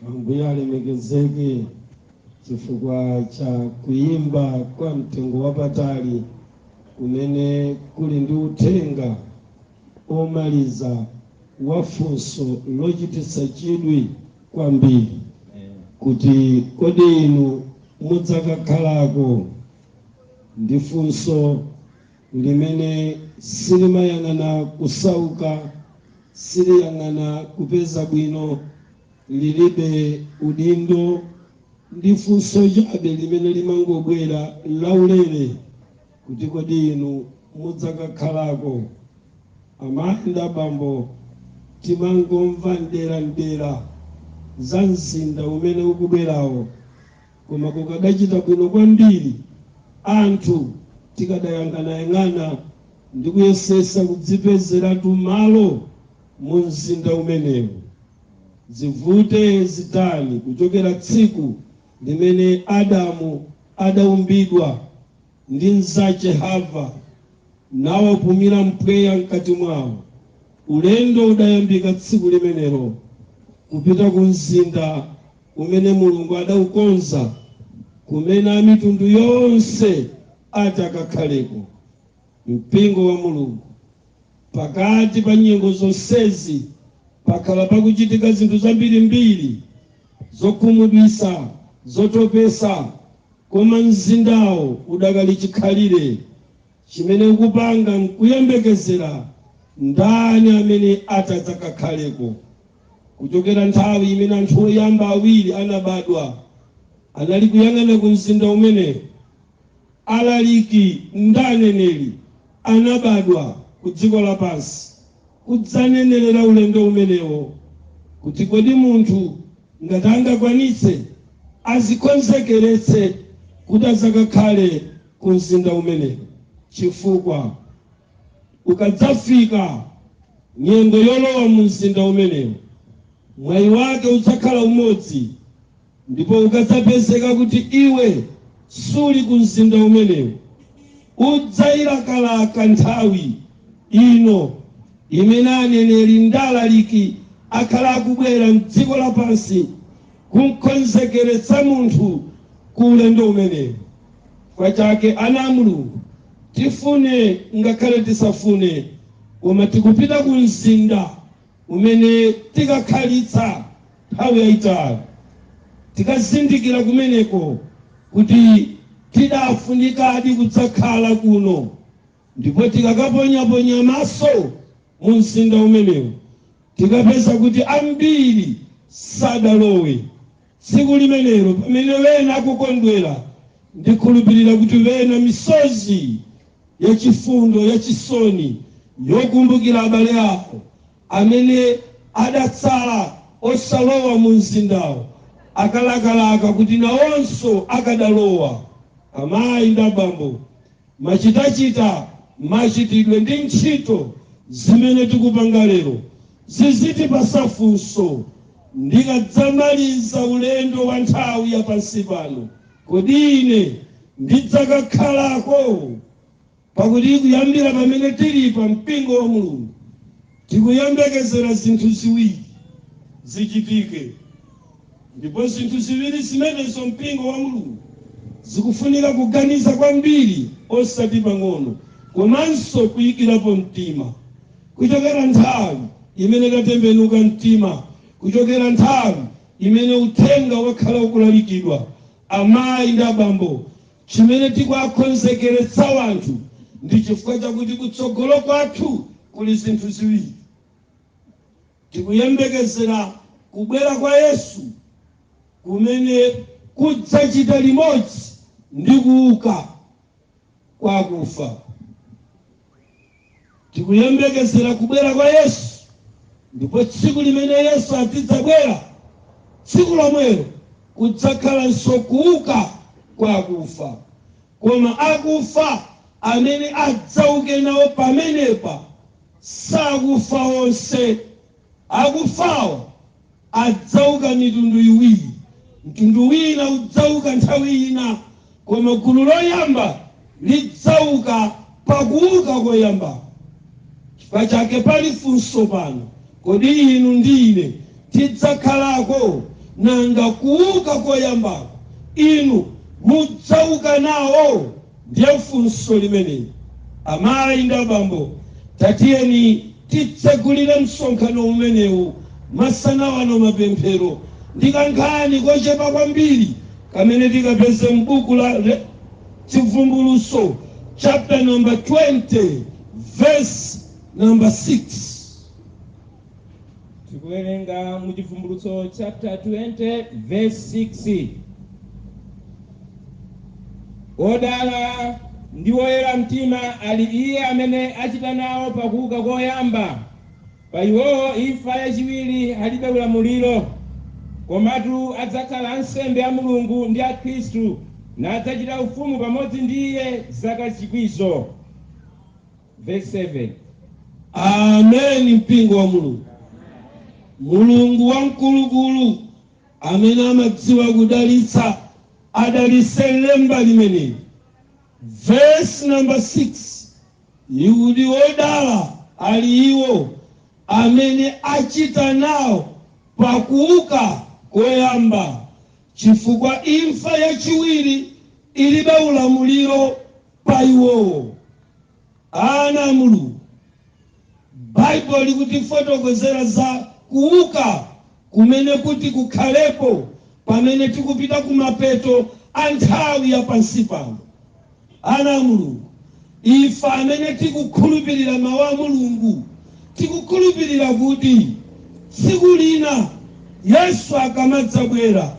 Ambuye alemekezeke chifukwa cha kuyimba kwa mtengo wapatali kumene kuli ndi uthenga omaliza wa funso lochititsa chidwi kwambiri kuti kodi inu mudzakakhalako ndi funso limene silimayang'ana kusauka, siliyang'ana kupeza bwino, lilibe udindo, ndi funso chabe limene limangobwera laulere kuti kodi inu mudzakakhalako? Amayi ndi abambo timangomva m'dera m'dera za mzinda umene ukubwerawo. Koma kukadachita bwino kwambiri anthu tikadayang'anayang'ana ndi kuyesesa kudzipezeratu malo mu mzinda umenewu, zivute zitani, kuchokera tsiku limene Adamu adaumbidwa ndi mzache Hava nawapumira mpweya mkati mwao, ulendo udayambika tsiku limenelo kupita ku mzinda umene Mulungu adaukonza, kumene amitundu yonse ati akakhaleko, Mpingo wa Mulungu. Pakati pa nyengo zonsezi pakhala pakuchitika zinthu zambirimbiri zokhumudwitsa, zotopetsa, koma mzindawo udakali chikhalire. chimene ukupanga nkuyembekezera ndani amene ati adzakakhaleko. Kuchokera nthawi imene anthu oyamba awiri anabadwa, anali kuyang'ana ku mzinda umenewo alaliki ndi aneneri anabadwa ku dziko lapansi kudzanenerera ulendo umenewo, kuti kodi munthu ngati angakwanitse azikonzekeretse kuti adzakakhale ku mzinda umenewu, chifukwa ikadzafika nyengo yolowa mu mzinda umenewu, mwayi wake udzakhala umodzi, ndipo ukadzapezeka kuti iwe suli ku mzinda umenewu, udzailakalaka nthawi ino imene aneneri ndi alaliki akhala akubwera m'dziko lapansi kum'konzekeretsa munthu ku ulendo umenewu. Chifukwa chake, ana a Mulungu, tifune ngakhale tisafune, koma tikupita ku mzinda umene tikakhalitsa nthawi yaitali. Tikazindikira kumeneko kuti tidafunikadi kudzakhala kuno, ndipo tikakaponyaponya maso mu mzinda umenewu, tikapeza kuti ambiri sadalowe. Tsiku limenelo pamene wena akukondwera, ndikhulupirira kuti pena misozi ya chifundo, ya chisoni, yokumbukira abale awo amene adatsala osalowa mu mzindawo, akalakalaka kuti nawonso akadalowa, amayi ndi abambo. Machitachita, machitidwe ndi ntchito zimene tikupanga lero zizitipatsa funso ndikadzamaliza ulendo wa nthawi ya pansi pano, kodi ine ndidzakakhalako? Pakuti kuyambira pamene tilipa mpingo wa Mulungu Tikuyembekezera zinthu ziwiri zichitike, ndipo zinthu ziwiri zimenezo, Mpingo wa Mulungu, zikufuna kuganiza kwambiri osati pang'ono, komanso kuikirapo mtima. Kuchokera nthawi imene tatembenuka mtima, kuchokera nthawi imene Uthenga wakhala ukulalikidwa, amayi ndi abambo Chimene tikuwakonzekeretsa wanthu ndi chifukwa chakuti kutsogolo kwathu kuli zinthu ziwiri. Tikuyembekezera kubwera kwa Yesu kumene kudzachita limodzi ndi kuuka kwa akufa. Tikuyembekezera kubwera kwa Yesu, ndipo tsiku limene Yesu azidzabwera, tsiku lomwelo kudzakhalanso kuuka kwa akufa. Koma akufa amene adzauke nawo pamenepa sakufa onse. Akufawo adzauka mitundu iwiri. Mtundu wina udzauka nthawi ina, koma gulu loyamba lidzauka pa kuuka koyambako. Chifukwa chake, pali funso pano, Kodi inu ndi ine tidzakhalako? Nanga kuuka koyambako inu mudzauka nawo? Ndiye funso limene, amayi ndi abambo, tatiyeni titsegulire msonkhano umenewu masana ano, mapemphero, ndi kankhani kochepa kwambiri kamene tikapeze m'buku la Chivumbulutso chapter number 20 verse number 6. tikuwerenga mu chivumbulutso chapter 20 verse 6 odala ndi woyera mtima ali iye amene achita nawo pakuuka koyamba pa iwowo imfa yachiwiri ilibe ulamuliro komatu adzakhala ansembe a mulungu ndi a khristu nadzachita ufumu pamodzi ndi iye zaka chikwizo Vesi 7, Amen mpingo wa Mulungu. Mulungu wamkulukulu amene amadziwa kudalitsa adalitse lemba limeneli. Vesi namba 6 ikuti odala ali iwo amene achita nawo pakuuka koyamba chifukwa imfa yachiwiri ilibe ulamuliro pa iwowo, ana a Mulungu. Baibulo likutifotokozera za kuuka kumene kuti kukhaleko pamene tikupita kumapeto a nthawi ya pansi pano. Ana a Mulungu, ife amene tikukhulupirira mawu a Mulungu tikukhulupirira kuti tsiku lina Yesu akamadzabwera,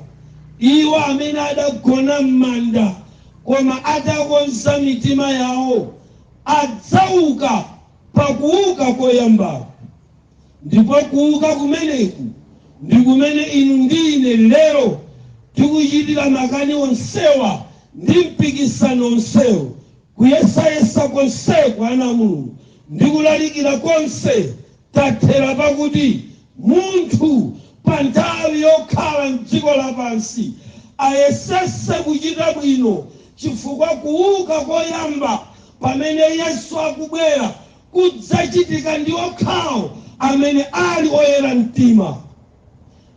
iwo amene adagona m'manda Koma atakonza mitima yawo, adzauka pa kuuka koyambako. Ndipo kuuka kumeneku ndi kumene inu ndi ine lero tikuchitira makani onsewa ndi mpikisano wonsewu, kuyesayesa konseku, ana a Mulungu, ndi kulalikira konse. Tathera pakuti munthu pa nthawi yokhala m'dziko lapansi ayesetse kuchita bwino chifukwa kuuka koyamba pamene Yesu akubwera kudzachitika ndi okhawo amene ali oyera mtima.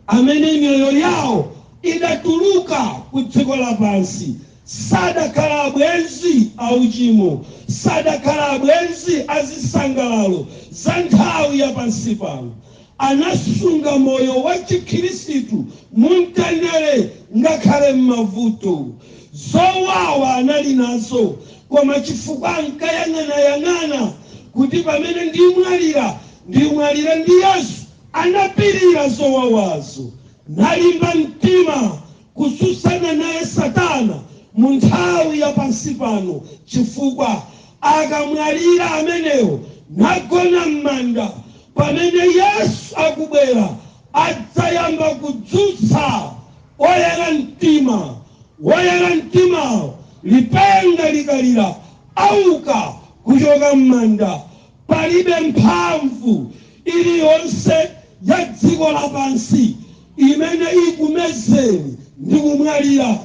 amene miyoyo yawo idatuluka ku dziko lapansi, sadakhala abwenzi a uchimo, sadakhala abwenzi a zisangalalo za nthawi ya pansi pano, anasunga moyo wa chikhirisitu mu mtendere ngakhale m'mavuto. Zowawa anali nazo, koma chifukwa ankayang'anayang'ana kuti pamene ndimwalira, ndimwalire ndi Yesu, Anapirira zowawazo, nalimba mtima kutsutsana naye Satana mu nthawi ya pansi pano, chifukwa akamwalira amenewo nagona m'manda, pamene Yesu akubwera adzayamba kudzutsa oyera mtima. Oyera mtimawo, lipenga likalira, auka kuchoka m'manda. Palibe mphamvu iliyonse ya dziko lapansi imene ikumezeni ndi kumwalira.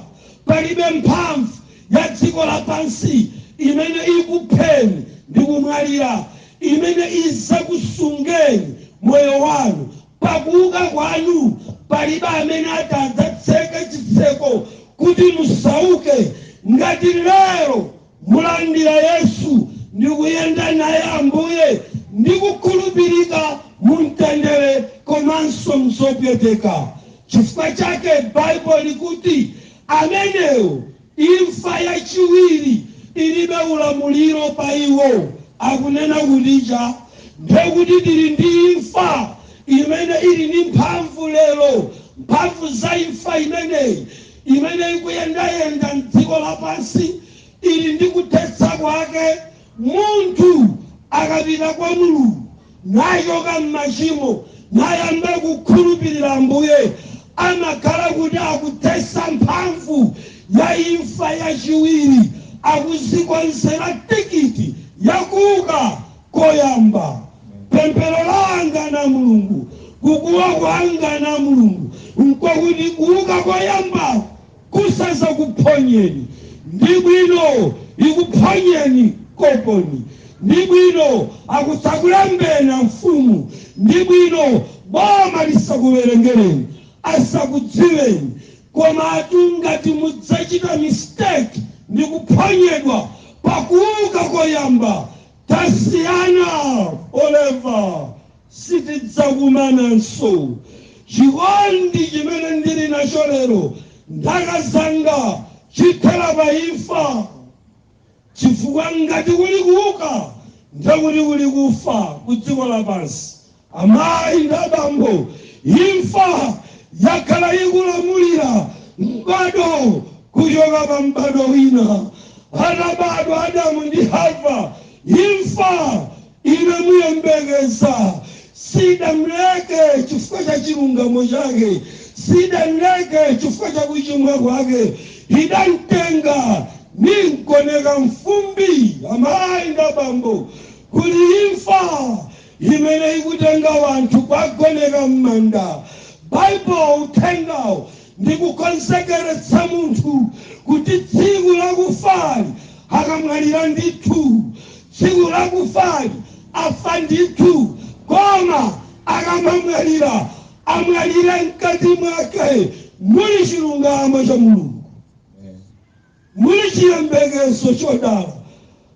Palibe mphamvu ya dziko lapansi imene ikupheni ndi kumwalira imene izakusungireni moyo wanu. Pa kuuka kwanu, palibe amene ati adzatseke chitseko kuti musauke. Ngati lero mulandira Yesu ndi kuyenda naye Ambuye ndi kukhulupirika mu mtendere komanso mzopweteka. Chifukwa chake Baibulo likuti amenewo imfa ya chiwiri ilibe ulamuliro pa iwo. Akunena kuti chani ndiye kuti tili ndi imfa imene ili ndi mphamvu lero. Mphamvu za imfa imeneyi imene ikuyendayenda m'dziko lapansi ili ndi kuthetsa kwake. Munthu akapita kwa Mulungu nachoka m'machimo nayamba kukhulupirira Ambuye, amakhala kuti akuthetsa mphamvu ya imfa yachiwiri, akuzikonzera tikiti yakuuka Koyamba, pemphero langa na Mulungu, kukuwa kwanga na Mulungu, n'kwakuti kuuka koyambaku kusazakuphonyeni. Ndi bwino ikuphonyeni koponi. Ndi bwino asakulembeni amfumu. Ndi bwino boma lisakuwerengereni, asakudziweni. Komatu ngati mudzachita mistake ndi kuphonyedwa pa kuuka koyamba, Tasiyana forever sitidzakumananso. Chikondi chimene ndili nacho lero ndi akazi anga chithera pa imfa. Chifukwa ngati kuli kuuka ndiye kuti kuli kufa ku dziko lapansi. Amayi ndi abambo, imfa yakhala ikulamulira m'bado kuchoka pa m'bado wina. Atabadwa Adamu ndi Hava, imfa inamuyembekeza. Sidamleke chifukwa cha chilungamo chake, sidamleke chifukwa cha kuchimwa kwake. Idamtenga nimgoneka m'fumbi, amayi ndi abambo, kuli imfa. imene ikutenga wanthu kwagoneka mmanda Bible uthengawo ndi kukonzekeretsa munthu kuti tsiku lakufali akamwalire ndithu tsiku lakufali afa ndithu koma akamamwalira amwalire mkati mwake muli chilungamo cha mulungu Muli chiyembekezo chodala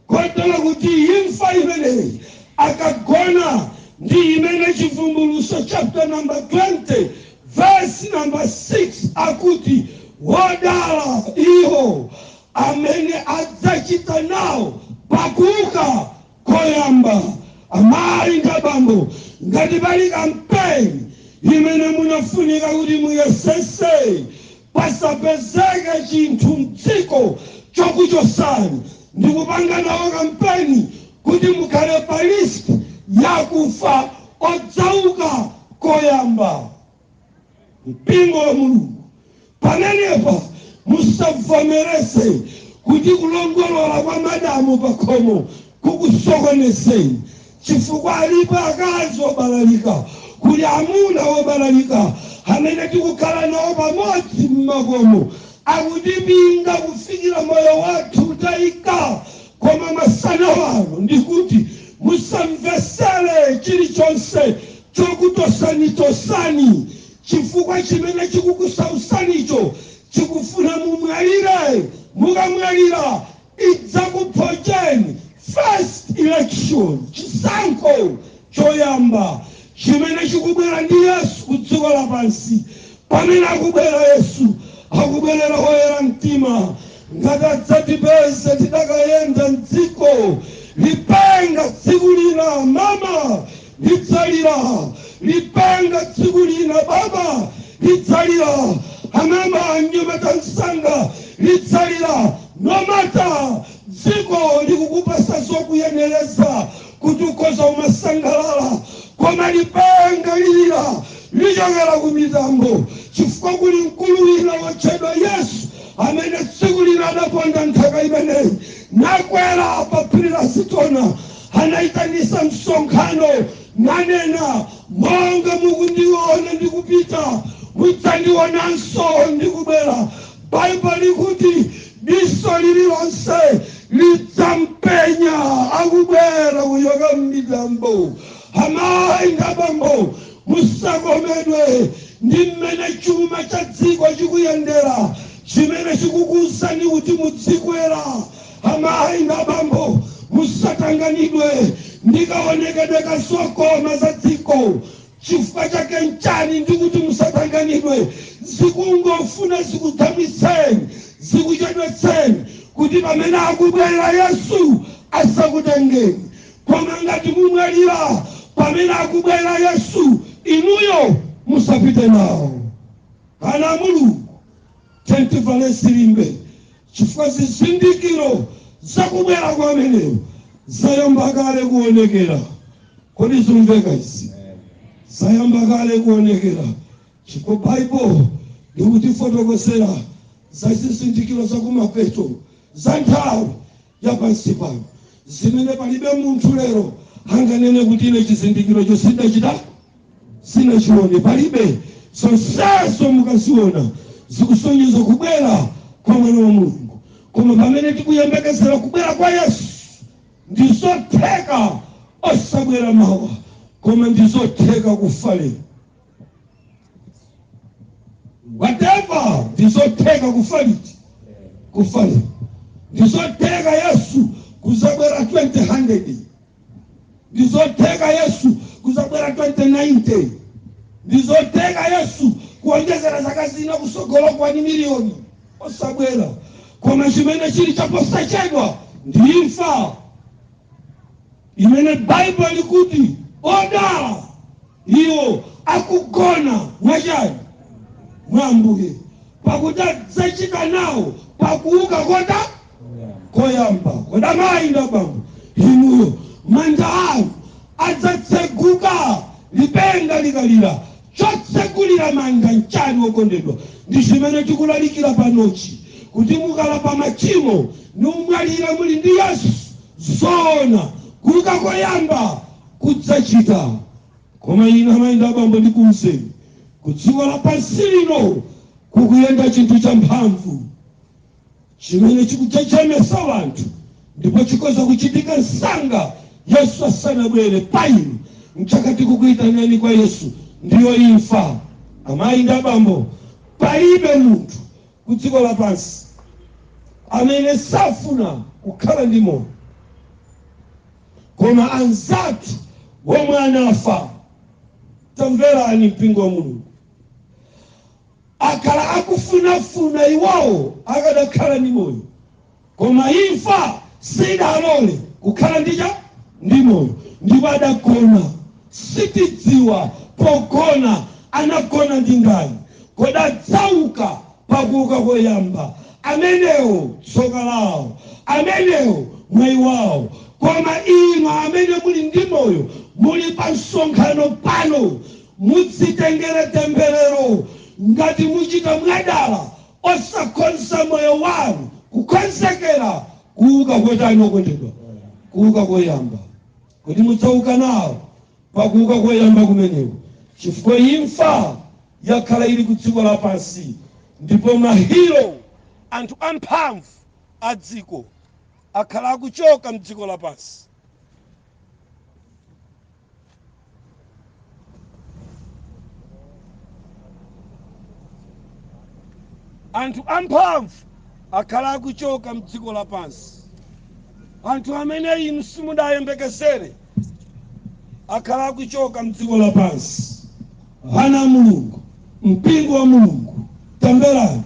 kotero kuti imfa imeneyi akagona ndi imene Chivumbulutso chapter number 20 verse number 6 akuti wodala iwo amene adzachita nawo pa kuuka koyamba. Amayi ndi abambo, ngati pali kampeni imene munafunika kuti muyesetse Pasapezeke chinthu mdziko chokuchosani ndikupanga nawo kampeni kuti mukhale pa list ya akufa odzauka koyamba. Mpingo wa Mulungu pamenepa musabvomereze kuti kulongolola kwa madamu pakhomo kukusokonezeni chifukwa alipo akazi obalalika, kuli amuna obalalika amene tikukhala nawo pamodzi m'makomo, akutipinga kufikira moyo wathu wataika, koma masana ano ndikuti musamvetsere chilichonse chokutosanitosani chifukwa chimene chikukusautsanicho chikufuna mumwalire, mukamwalira idzakuphonyeni first election chisankho choyamba chimene chikubwera ndi yesu ku dziko lapansi pamene akubwera yesu akubwerera oyera mtima ngati adzatipeze tidakayenda mdziko lipenga tsiku lina mama Lidzalira lipenga tsiku lina baba lidzalira amama anyamata msanga lidzalira no matter dziko likukupatsa zokuyeneleza kuti ukhoza umasangalala koma lipenga lilira lichokera ku mitambo chifukwa kuli mkulu wina wotchedwa Yesu amene tsiku lina anaponda nthaka imeneyi nakwera pa phiri la Azitona anaitanisa msonkhano nanena, Monga mukundiona ndikupita, mudzandionanso ndikubwera. Baibulo likuti diso lililonse lidzampenya akubwera kuchoka m'mitambo. Amayi ndi abambo, musakomedwe ndi mmene chuma cha dziko chikuyendera, chimene chikukuuzani kuti mudzikwera Amayi ndi abambo, musatanganidwe ndi kaonekedwe ka zokoma za dziko. Chifukwa chake nchani ndikuti musatanganidwe? Zikungofuna zikudamitseni, zikuchedwetseni kuti pamene akubwera Yesu asakutengeni. Koma ngati mumwalira pamene akubwera Yesu, inuyo musapite nawo. Ana a Mulungu! Tiyeni tivale zilimbe, chifukwa zizindikiro za kubwera kwa ameneyo zayamba kale kuonekera. Kodi zumveka izi? Zayamba kale kuonekera, chifukwa Baibulo likutifotokozera za zizindikiro za kumapeto kwa nthawi. ya pansi pano, zimene palibe munthu lero anganene kuti ine chizindikirocho sindachita sinachione, palibe. Zonsezo mukaziona zikusonyeza kubwera kwa mwana wa Mulungu, koma pamene tikuyembekezera kubwera kwa Yesu ndi zotheka osabwera mawa, koma ndi zotheka kufa lero. ndizotheka kufa ndizotheka yesu kuzabwera 2000 ndizotheka yesu kuzabwera 2090 ndizotheka yesu kuonjezera zaka zina kusogolo kaya ndi miliyoni osabwera koma chimene chili chaposachedwa ndi imfa imene Baibulo likuti, Odala iwo akugona, mwa chiyani? mwa Ambuye, pakuti adzachita nawo pakuuka koyamba koyamba. Kodi amayi ndi abambo inuyo manda anu adzatseguka lipenga likalira Chotsegulira manda nchani okondedwa? Ndi chimene tikulalikira panochi kuti mukalapa machimo numwalira muli ndi Yesu zoona kuuka koyamba mudzachita koma inu amayi ndi abambo ndikuuzeni kudziko lapansi lino kukuyenda chinthu champhamvu. chimene chikujejemetsa wanthu, ndipo chikhoza kuchitika msanga Yesu asanabwere pa inu. Nchake tikukuitanani kwa Yesu, ndiyo imfa. Amayi ndi abambo, palibe munthu ku dziko lapansi amene safuna kukhala ndi moyo, koma anzathu womwe anafa. Tamverani mpingo wa Mulungu. akanakhala akufunafuna iwowo akadakhala ndi moyo, koma imfa siidawalole kukhala ndi cha? Ndi moyo, ndipo adagona. Sitidziwa pogona anagona ndi ndani. Kodi adzauka pa kuuka koyamba? Amenewo tsoka lawo, amenewo mwayi wawo. Koma inu amene muli ndi moyo, muli pa msonkhano pano, Mudzitengere temberero ngati muchita mwadala osakonza moyo wanu kukonzekera kuuka kotani okondedwa? Kuuka koyamba. Kodi mudzauka nawo pa kuuka koyamba kumeneko? Chifukwa imfa yakhala ili ku dziko lapansi ndipo mahiro, anthu amphamvu a dziko, akhala akuchoka mdziko lapansi. anthu amphamvu akhala akuchoka mdziko lapansi anthu amene inu simudayembekezere akhala akuchoka mdziko lapansi ana a mulungu mpingo wa mulungu tamverani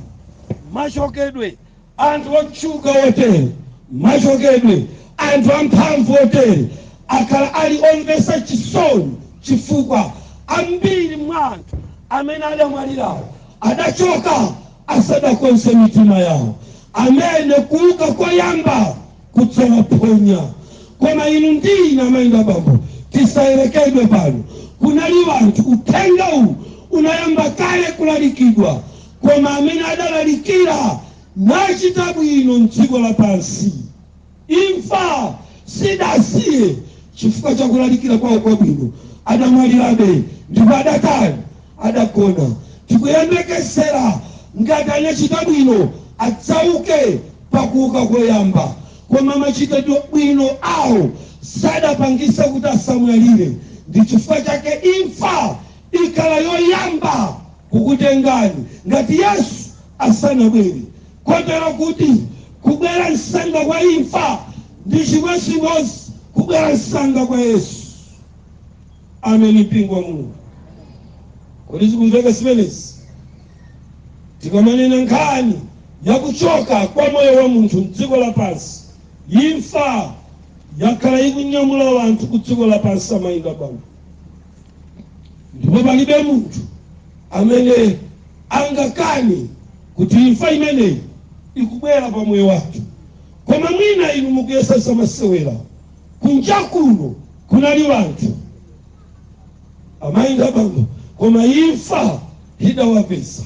machokedwe Anthu otchuka otere, machokedwe, anthu amphamvu otere akhala ali omvetsa chisoni chifukwa ambiri mwa anthu amene adamwalirawo adachoka asadakonze mitima yawo, amene kuuka koyamba kudzawaphonya. Koma inu ndi ine, amayi ndi abambo, tisayerekeze. Pano kunali anthu uthenga uwu unayamba kale kulalikidwa. Koma amene adalalikira nachita bwino m'dziko lapansi, imfa sidawasiye chifukwa cha kulalikira kwawo kwabwino, adamwalirabe, ndipo adatani? Adagona. Tikuyembekezera ngati anachita bwino, adzauke pa kuuka koyamba. Koma machitabwino awo sadapangitse kuti asamwalire, ndi chifukwa chake imfa ikhala yoyamba. kukutengani ngati Yesu asanabwere, kotero kuti kubwera msanga kwa imfa ndi chimodzimodzi kubwera msanga kwa Yesu. Ameni, mpingo wa Mulungu. Kodi zikumveka zimenezi? Tikamanena nkhani ya kuchoka kwa moyo wa munthu mdziko lapansi, imfa yakhala ikunyamula wanthu ku dziko lapansi amayi ndi abambo. ndipo palibe munthu amene angakane kuti imfa imeneyi ikubwera pa moyo wathu koma mwina inu mukuyesa zamasewera kunja kuno kunali wanthu amayi ndi abambo koma imfa idawapeza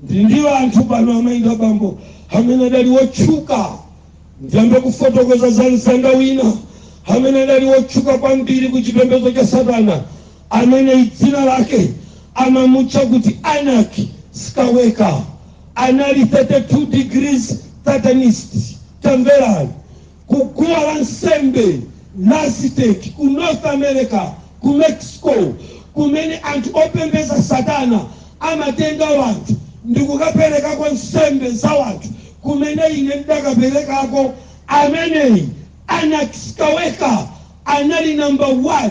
ndi ndi wanthu pano amayi ndi abambo amene adali wotchuka Ndiyambe kufotokoza za mzanga wina amene adali wotchuka kwambiri ku chipembedzo cha Satana amene dzina lake amamutcha kuti Anak Skaweka. Anali 32 degrees Satanist. Tamverani, ku guwa la nsembe la Aztec ku North America ku Mexico kumene anthu opembeza satana amatenga wanthu ndikukapelekako nsembe za wanthu kumene ine ndidakapelekako ameneyi Anas Kaweka anali number 1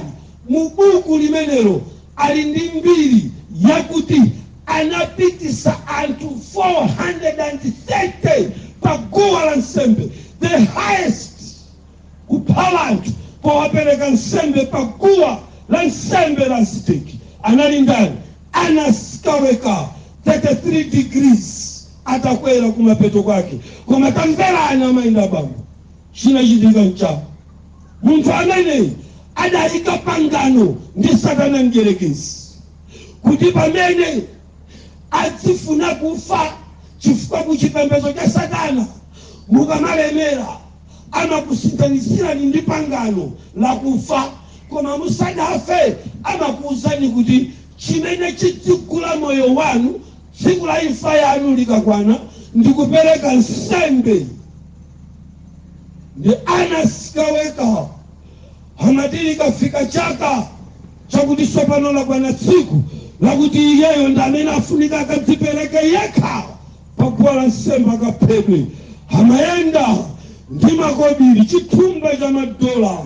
mu buku limenelo ali ndi mbiri yakuti anapitisa anthu 430 pa guwa la nsembe the highest kupha anthu powapereka nsembe pa guwa la nsembe la Aziteki anali ndani? Anas Kaweka, 33 degrees atakwera kumapeto kwake. Koma tamverani amayi ndi abambo, chinachitika nchani? Munthu ameneyi adayika pangano ndi Satana Mdyerekezi kuti pamene adzifuna kufa chifukwa kuchipembedzo cha Satana mukamalemera amakusinthanitsirani ndi pangano la kufa, koma musanafe amakuuzani kuti chimene chidzigula moyo wanu tsiku la imfa yanu likakwana ndi kupereka nsembe. Nde Anas Kaweka amati likafika chaka chakuti tsopano lakwana tsiku lakuti iyeyo ndi amene afunika akadzipereke yekha pa guwa la nsembe akaphedwe. Amayenda ndi makobiri, chithumba cha madola,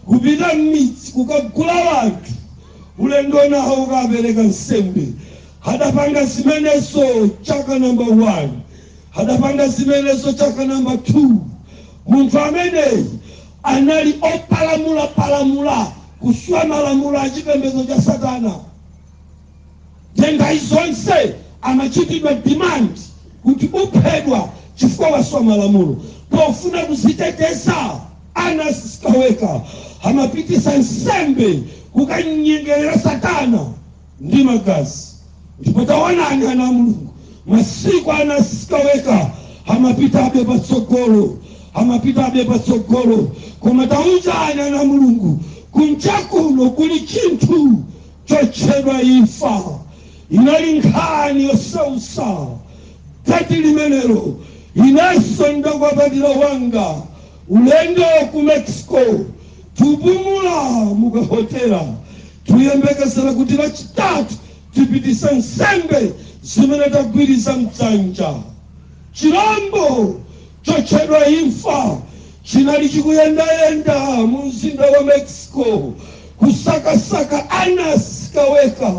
kupita m'midzi kukagula anthu ulendo nawo kukapereka nsembe. Adapanga zimenezo chaka namba 1, adapanga zimenezo chaka namba 2. Munthu ameneyi anali opalamulapalamula kuswa malamulo a chipembedzo cha Satana. Nthawi zonse amachitidwa demand kuti uphedwa chifukwa waswa malamulo. Pofuna kuziteteza Anas Kaweka amapitisa nsembe kukanyengelera satana ndi magazi. Ndipo tawonani ana a Mulungu masiku Anas Kaweka amapitabe patsogolo amapitabe patsogolo koma taonani ana a Mulungu kunjakuno kuli chinthu chotchedwa imfa. Inali nkhani yosautsa chaka chimenecho inenso ndakwapatira wanga ulendo ku Mexico tikupumula mu ka hotela tikuyembekezera kuti lachitatu tipitise nsembe zimene tagwirizira mdzanja. Chirombo chotchedwa imfa chinali chikuyendayenda mu Mzinda wa Mexico, kusakasaka Anasi Sikaweka,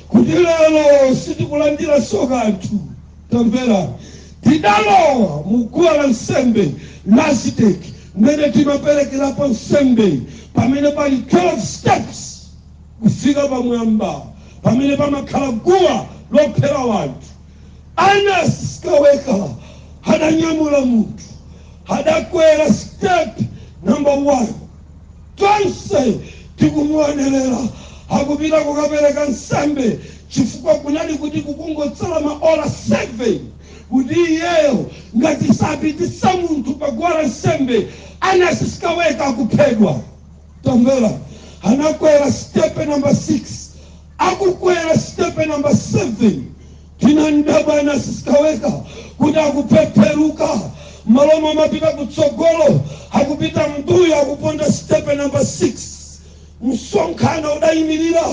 kuti, Lero sitikulandiranso kanthu. Tamverani. Tidalowa mu guwa la nsembe la Aziteki, mmene timaperekerapo nsembe, pamene pali 12 steps kufika pamwamba, pamene pamakhala guwa lophera anthu. Anasi Sikaweka adanyamula munthu, adakwera step number 1. Tonse tikumuonerera akupita kukapereka nsembe chifukwa kunali kuti kukungotsala maola 7 kuti iyeyo ngati sapititsa munthu pa guwa la nsembe, Anasi Sikaweka akuphedwa. Tamvera, anakwera step number 6. Akukwera sitepe namba 7 tinamdabwa Anasi Sikaweka kuti akupepeluka mmalo momapita kutsogolo akupita mmbuyo akuponda sitepe namba 6. Msonkhano udayimilira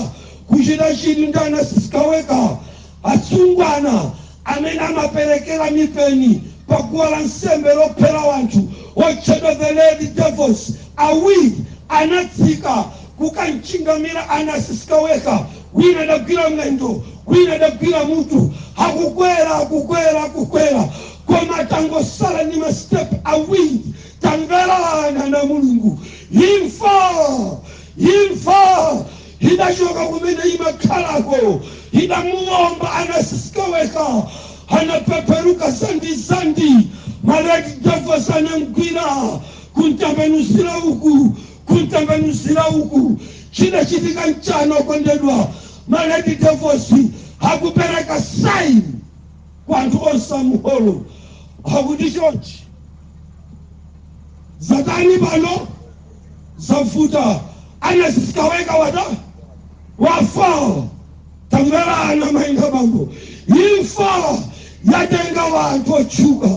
kuchita chidwi ndi Anasi Sikaweka. Asungwana amene amaperekera mipeni pa guwa la nsembe lophera anthu otchedwa The Red Devils awiri anatsika kukamchingamira Anasi Sikaweka, wina adagwira mwendo wina adagwira mutu. Akukwera, akukwera, akukwera koma atangotsala ndi ma step awiri, tamverani ana a Mulungu, imfa! imfa! idachoka kumene imakhalako, idamuwomba Anasi Sikaweka, anapeperuka dzandidzandi, ma red devils anamgwira, kumtembenuzira uku, kumtembenuzira uku. Chidachitika n'chani okondedwa? Ma red devils akupereka sign kwa anthu onse a mu holo, akuti chonchi, zatani pano? zavuta Anasi Sikaweka watha wafa tamverani amayi ndi abambo imfa yatenga wanthu otchuka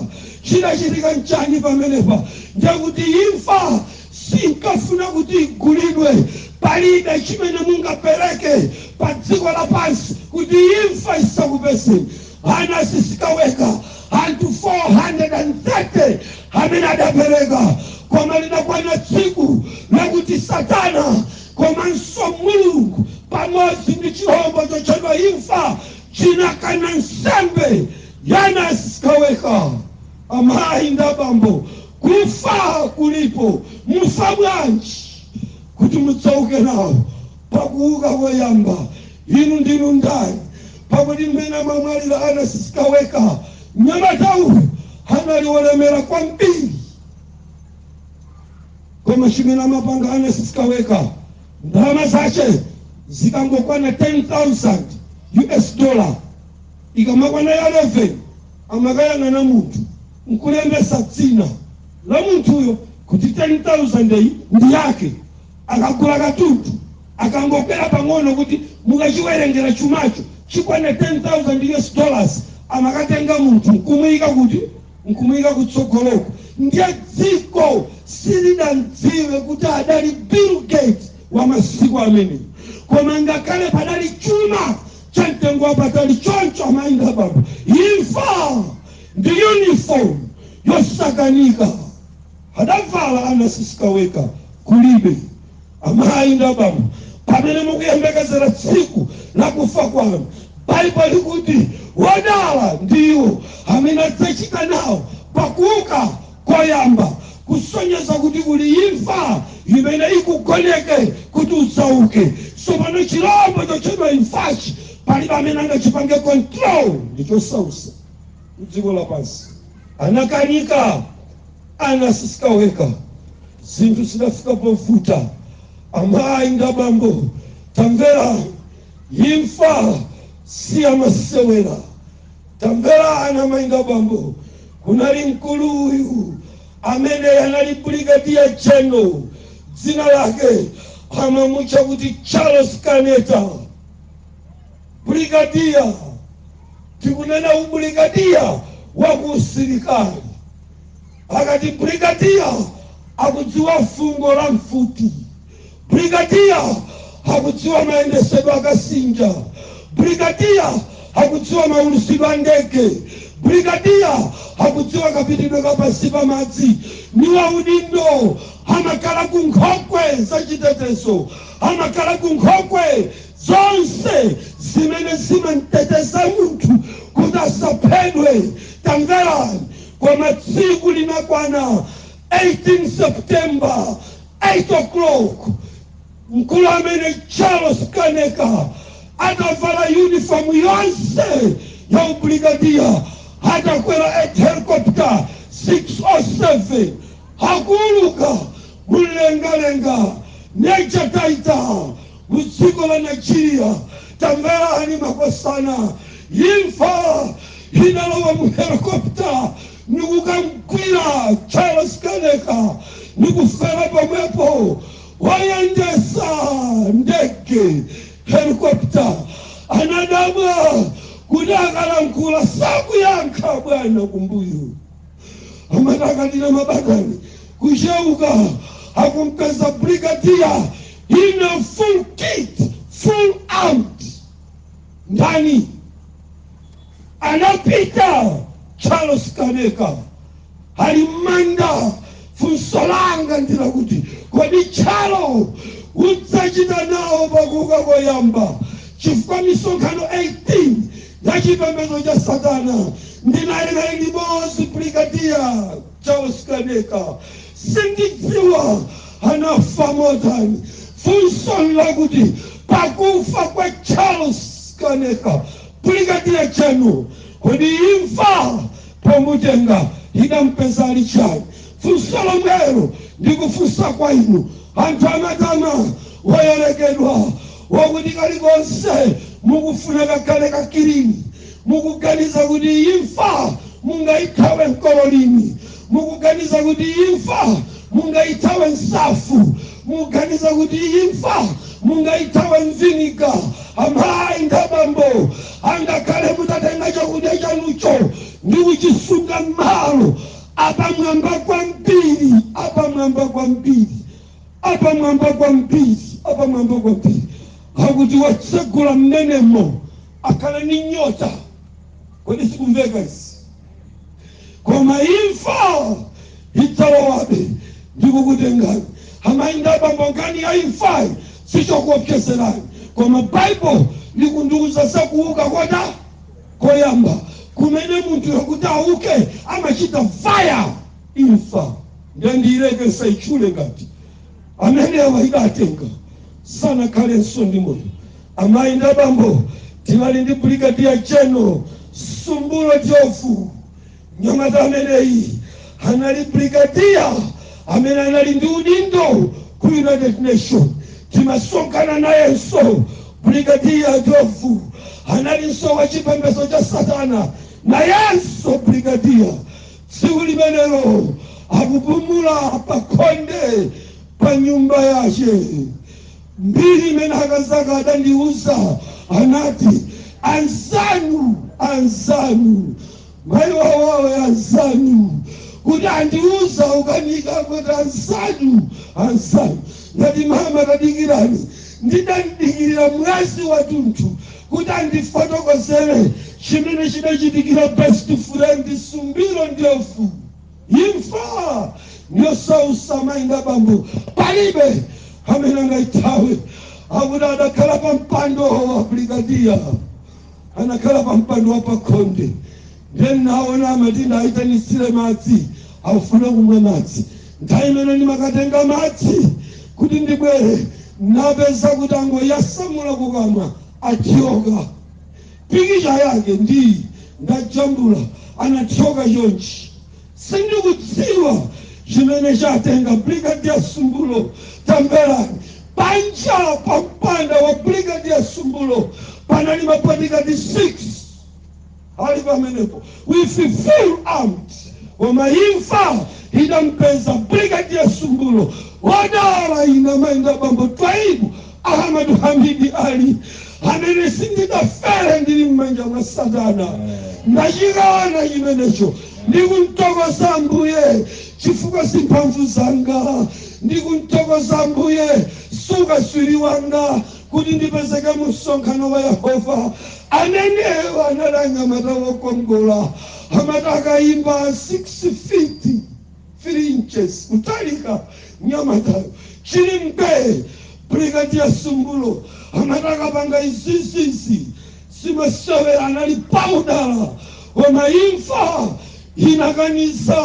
chinachitika n'chani pamenepa ndekuti imfa sinkafuna kuti igulidwe palibe chimene mungapereke pa dziko lapansi kuti imfa isakupezeni Anasi Sikaweka anthu 430 amene adapereka koma lidakwana tsiku lakuti satana komanso mulungu pamodzi ndi chilombo chotchedwa imfa chinakana nsembe ya Anasi Sikaweka amayi ndi abambo kufa kulipo mufa bwanji kuti mudzauke nawo pakuuka koyamba inu ndinu ndani Pakuti mmene amamwalira Ernest Sikaweka, mnyamatayu anali wolemera kwambiri. Koma chimene amapanga Ernest Sikaweka, ndalama zace zikangokwana 10,000 US dollar, ikamakwana ya 11 amakayang'anana munthu n'kulembetsa dzina la munthuyo kuti 10,000 iyi ndi yake. akagula katundu akangokwera pang'ono kuti mukachiwerengera chumacho chikwane 10,000 us dollars amakatenga munthu nkumuika kuti nkumuika kutsogoloko ndiye dziko silidamdziwe kuti adali bill gates wa masiku amenewo koma ngakhale padali chuma cha mtengo wapatali choncho amayi ndi abambo imfa ndi uniform yosakanika Adavala Ernest Sikaweka kulibe amayi ndi abambo pamene mukuyembekezera tsiku lakufa kwanu baibulo likuti wodala ndi iwo amene adzachita nawo pakuuka koyamba kusonyeza kuti kuli imfa imene ikugoneka kuti udzauke sopano chilombo chotchedwa imfachi palibe amene angachipange control ndichosausa mdziko lapansi anakanika Ernest Sikaweka, zinthu zidafika povuta, amayi ndi abambo tamverani, imfa siyamasewera, tamverani amayi ndi abambo, kunali mkulu uyu amene anali Brigadier General dzina lake amamutcha kuti Charles Kaneka. Brigadier, tikunena ubrigadier wa ku usilikali. Akati brigadier akudziwa fungo la mfuti, brigadier akudziwa mayendesedwe akasinja, brigadier akudziwa maulusidwe a ndege, brigadier akudziwa kapitidwe ka pansi pa madzi. Ni waudindo, amakhala ku nkhokwe za chitetezo, amakhala ku nkhokwe zonse zimene zimamteteza munthu kuti asaphedwe. Tamverani, koma tsiku linakwana 18 September 8 o'clock mkulu amene Charles Kaneka atavala uniform yonse ya ubrigadiya atakwera helicopter 607 akuwuluka mumlengalenga Major Taita M'dziko la Nigeria tamverani makosana imfa inalowa mu helicopter ndikukamgwira Charles Kaneka ndikufera pomwepo oyendesa ndege helicopter anadabwa kuti akalankhula sakuyankha abwana kumbuyo amati akadina mabatani kucheuka akumpeza brigadier ina full kit, full out. Ndani adapita? Charles Kaneka ali m'manda. Funso langa ndilakuti, kodi Chalo udzachita nawo pakuuka koyamba? Chifukwa misonkhano 18 ya chipembedzo cha Satana ndinali naye limodzi brigadier Charles Kaneka, sindidziwa anafa motani. Funso nlakuti, pakufa kwa Charles Kaneka, Brigadier General, kodi imfa pomutenga idampeza ali chani? Funso lomwelo ndikufunsa kwa inu anthu amatama oyerekedwa akuti kalikonse mukufuna kakhale ka kilini Mukuganiza kuti imfa mungaithawe mkololini? Mukuganiza kuti imfa mungaithawe nsafu? Mukuganiza kuti imfa mungaithawe mviniga? Amai ndi abambo, angakhale mutatenga chakudya chanucho ndi kuchisunga m'malo apamwamba kwambiri, apamwamba kwambiri, apamwamba kwambiri, apamwamba kwambiri akuti wotsegula m'menemo, akhale ndi nyota code sikumveka izi koma imfa idzalowabe ndi kukutengani amayi ndi abambo nkhani ya imfa sichokuopsezerani koma baibulo likutiuza zakuuka kodza koyamba kumene munthu kuti auke amachita faya imfa ndendiyilekesa itchule ngati amenewa idatenga sanakhalenso ndi moyo amayi ndi abambo tinali ndi brigadier general sumbulo njovu mnyamata ameneyi anali brigadier amene anali ndi udindo ku united nation timasonkhana nayenso brigadier njovu analinso wa chipembedzo cha satana nayenso brigadier Tsiku limenelo akupumula pakhonde pa nyumba yace. Mbiri imene akazake adandiuza, anati, Anzanu, anzanu, mai wawawe anzanu, kuti andiuza ukanika kuti anzanu, anzanu. Ndati, Mama, tadikirani. Ndidamdikirira mwezi watunthu. Kuti andifotokozere chimene chidachitikira best friend Sumbulo Ndlovu, imfa ndi yosautsa amayi ndi abambo palibe amene angaithawe. Akuti adakhala pa mpando wa brigadier, anakhala pa mpando wa pakhonde, ndiye anaona amati ndaitanitsira madzi, akufuna kumwa madzi, Nthawi imene ndimakatenga madzi kuti ndibwere ndapeza kuti wangoyasamula kukamwa athyoka. Pikicha yake ndi iyi, ndajambula anathyoka chonchi. Sindikudziwa chimene chatenga Brigadier Sumbulo. Tamverani, panja pa mpanda wa Brigadier Sumbulo panali mabodigadi 6. Ali pamenepo with full armed, koma imfa idampeza Brigadier Sumbulo wodala ine amayi ndi abambo Twaibu Ahmadu Hamidi Ali amene sindidafe ndili m'manja mwa Satana ndachikana chimenecho ndikumthokoza Ambuye chifukwa si mphamvu zanga ndikumthokoza Ambuye si ukatswiri wanga kuti ndipezeke mu msonkhano wa Yehova. Amenewo anali mnyamata wokongola amati akayima 6 feet 3 inches kutalika mnyamatayo chili mbee Brigadier Sumbulo amati akapanga izizizi si masewera anali pa udala koma imfa inakaniza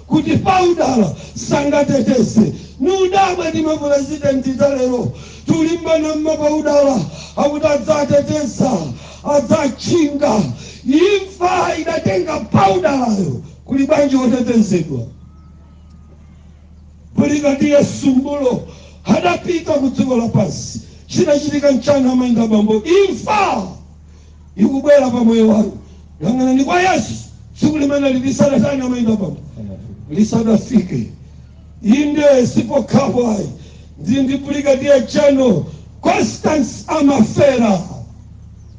kuti paudala sangateteze ndikudabwa ndi mapulezidenti alero kulimbana mmapaudala akuti adzateteza adzatchinga imfa idatenga paudalayo kuli bwanji otetezedwa Brigadier Sumbulo adapita ku dziko lapansi chinachitika nchiyani amayi ndi abambo imfa ikubwera pa moyo wanu. Yang'anani kwa Yesu tsiku limeneli lisadatani amayi ndi abambo lisadafike. Inde sipokhapo ayi ndi ndi Brigadier General Constance Amafera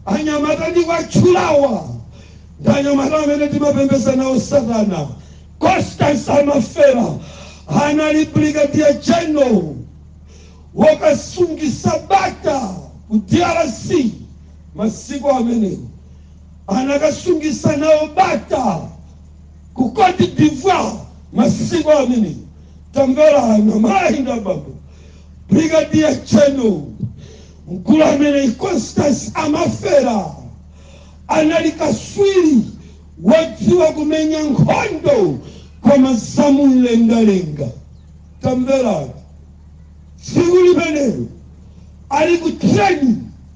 anyamata ndikuwatchulawa ndi anyamata amene timapembedza nawo satana Constance Amafera anali Brigadier General wokasungisa bata ku DRC Masiku amenewo anakasungisa nawo bata ku Côte d'Ivoire, masiku amenewo tamverani amayi ndi abambo, Brigadier General mkulu ameneyi Constance amafera anali kaswiri wodziwa kumenya nkhondo koma za mumlengalenga. Tamverani, tsiku limenelo ali ku training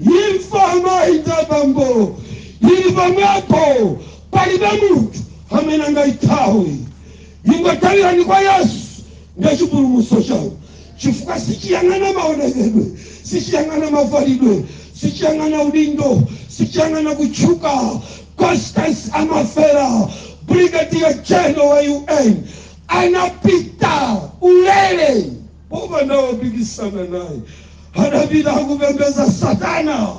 Imfa amayi ndi abambo ili pomwepo, palibe munthu amene angaithawe. Ingothawikani kwa Yesu, ndiye chipulumutso chanu, chifukwa sichiyang'ana maonekedwe, sichiyang'ana mavalidwe, sichiyang'ana udindo, sichiyang'ana kutchuka. Constance amafera, Brigadier General wa UN, anapita ulere. Popanda wopikisana naye, adapita akupembeza satana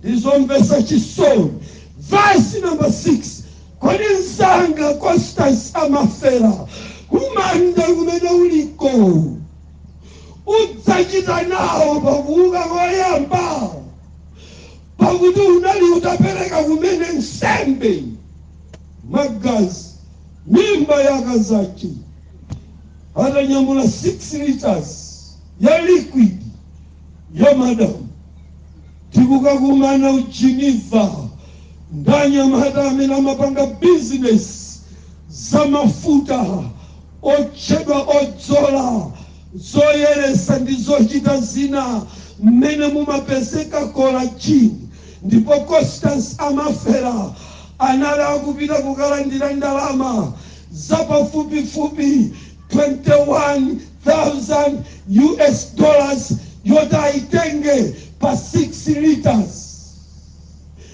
ndizomvesa chisoni verse number 6 kodi nzanga constance amafera kumanda kumene uliko udzachita nawo pakuuka koyamba pakuti unali utapereka kumene nsembe magazi mimba yakazachi atanyamula 6 litres ya liquid ya madam tikukakumana ku geneva ndi anyamata amene amapanga business za mafuta otchedwa odzola zoyeresa ndi zochita zina mmene mumapezeka collagen ndipo constance amafera anali akupita kukalandira ndalama za pafupifupi 21,000 US dollars yoti ayitenge pa 6 litres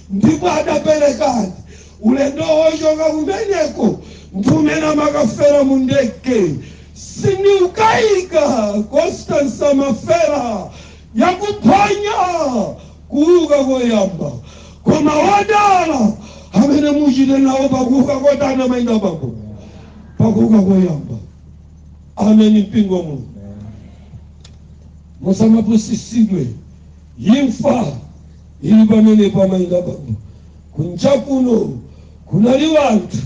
ndipo adaperekadi ulendo wochoka kumeneko ndi umene amakafera mu ndege sindiukayika constance amafera yakuphwanya kuuka koyamba, koma wodala amene muchita nawo pakuuka kotani amayi ndi abambo pakuuka koyamba. Ameni, mpingo wa Mulungu, musamapusisidwe. Imfa ili pamenepo, amayi ndi abambo kunja kuno kunali wanthu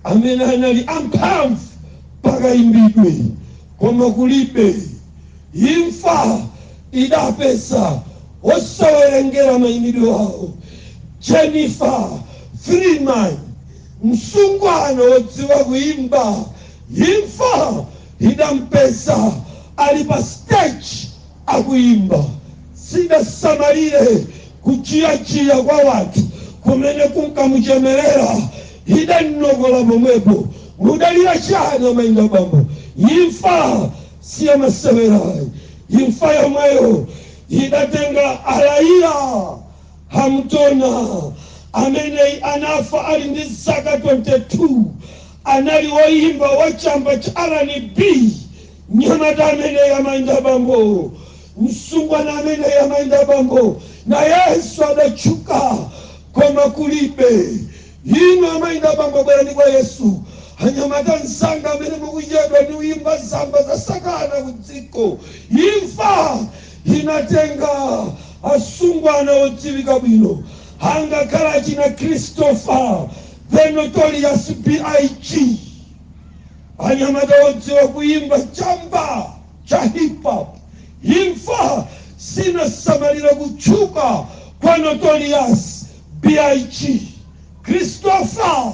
amene anali amphamvu pakayimbidwe, koma kulibe Imfa idapeza osawerengera maimidwe awo. Jennifer Freeman, msungwana wodziwa kuimba, imfa idampeza ali pa stage akuimba. Sidasamalire kutchiyatchiya kwa wanthu kumene kunkamuchemerera, idamnokola pomwepo. Mudalira chani amayi ndi abambo? Imfa. si ya masewera ayi imfa yomweyo idatenga Aaliyah Haughton ameneyi anafa ali ndi zaka 22 anali woyimba wa chamba cha rnb mnyamata ameneyi amayi ndi abambo msungwana ameneyi amayi ndi abambo nayenso adatchuka koma kulibe Inu amayi ndi abambo bwerani kwa Yesu. Anyamata anzanga amene mukuchedwa ndi kuyimba nyimbo za satana ku dziko, imfa inatenga asungwana odziwika bwino angakhale achina Christopher the notorious B.I.G. Anyamata odziwa kuyimba chamba cha hip hop, imfa sinasamalire kutchuka kwa notorious B.I.G. Christopher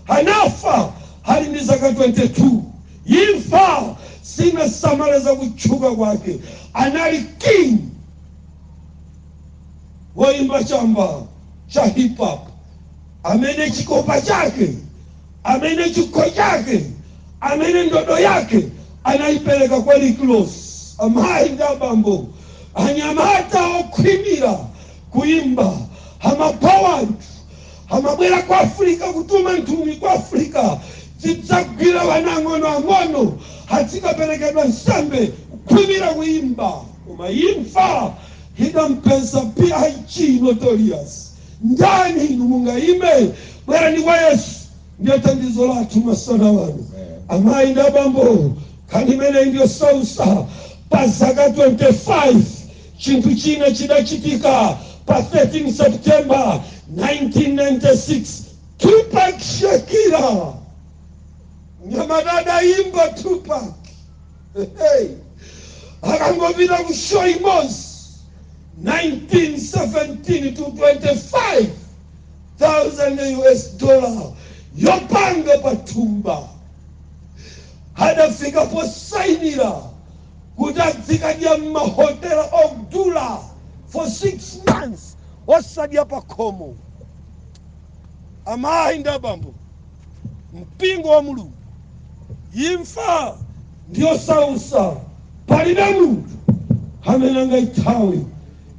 anafa ali ndi zaka 22. Imfa sinasamalire za kutchuka kwake. Anali king woimba chamba cha hip hop amene chikopa chake, amene chikho chake, amene ndodo yake anaipereka kwa Rick Ross. Amayi ndi abambo, anyamata okhwimira Kuyimba, Amapha wanthu, amabwera ku Africa, kutuma nthumwi ku Africa, zidzagwira wana ang'ono ang'ono, azikaperekedwa nsembe, kukhwimira kuyimba, koma imfa idampeza big notorious. Ndani inu mungayime? Bwerani kwa Yesu, ndiye thandizo lathu masana wano. Amayi ndi abambo, nkhani imeneyi ndiyosausa, pa zaka 25. Chinthu china chidachitika pa 13 September 1996 Tupac Shakur mnyamata adayimba Tupac hey. akangopita ku show imodzi 1917 to 25 thousand US dollar yoponya m'thumba adafika posainira kuti adzikadya m'mahotela odula for six months osadya pakhomo amayi ndi abambo mpingo wa mulungu imfa ndiyosausa palibe munthu amene angayithawe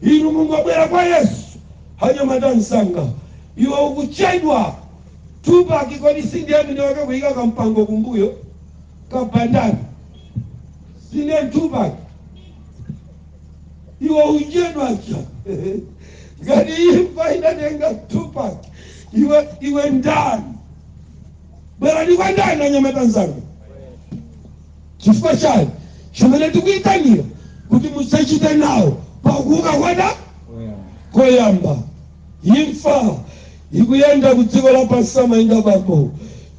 inu Mulungu bwera kwa yesu anyamata anzanga iwe ukuchedwa Tupac kodi sindiye mwini wake kuyika kampango kumbuyo Kabandani, Si Tupac, iwe uchedwa chani ngati imfa idatenga Tupac, iwe iwe ndani? Bwerani kwa ndani anyamata anzanga? Chifukwa chani chimene tikuyitanira kuti mudzachite nawo pakuuka kwanu koyamba Imfa ikuyenda ku dziko lapansi amayi ndi abambo.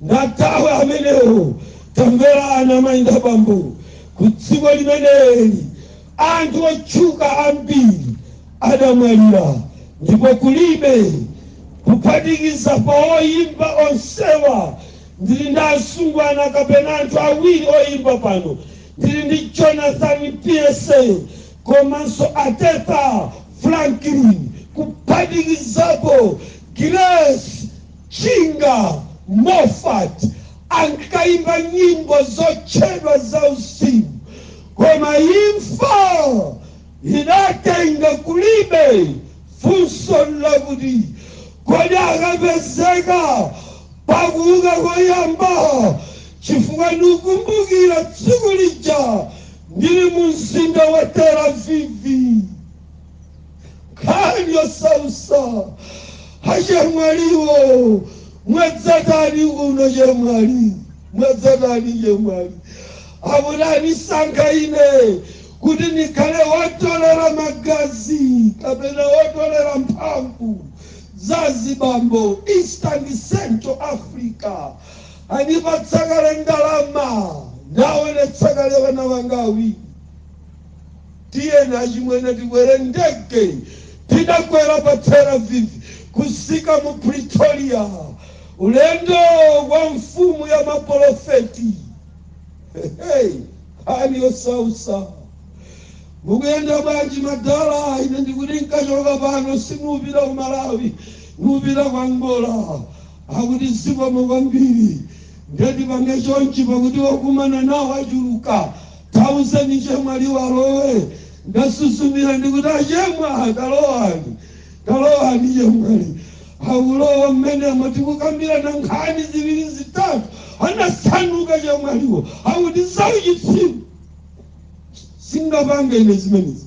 Ndathawe amenewo. Tamverani amayi ndi abambo, ku dziko limeneli anthu otchuka ambiri adamwalira ndipo kulibe, kuphatikiza pa oyimba onsewa ndili ndi asungwana kapena anthu awiri oyimba pano. Ndili ndi Jonathan Pierce komanso Aretha Franklin kuphatikizapo Grace Chinga Moffat ankayimba nyimbo zotchedwa zauzimu koma imfa idatenga kulibe. Funso n'lakuti, Kodi akapezeka pakuuka koyamba chifukwa ndikukumbukira tsiku lija Ndili mu mzinda wa Tel Aviv, nkhani yosausa achemwaliwo mwadzatani uno chemwali mwadzatani chemwali akuti anandisankha ine kuti ndikhale wotolera magazi kapena wotolera mphamvu za zibambo eastern central africa Andipatsa kale ndalama, ndaonetsa kale ana anga awiri. Tiyeni achimwene tikwere ndege. Tinakwera pa Tel Aviv kufika mu Pretoria, ulendo wa mfumu ya mapolofeti. Hey, nkhani yosausa mukuyenda bwanji madala ine ndikuti nkachoka pano sindipita ku malawi ndipita ku Angola akuti zikomo kwambiri nde tipange chonchi pakuti okumana nawo achuluka tauzeni chemwaliwo alowe ndinasuzumira ndikuti achemwa talowani talowani chemwali akulowa mmene tikukambirana nkhani ziwiri zitatu anazambuka chemwaliwo akuti zauchitsiru singapange ine zimenezi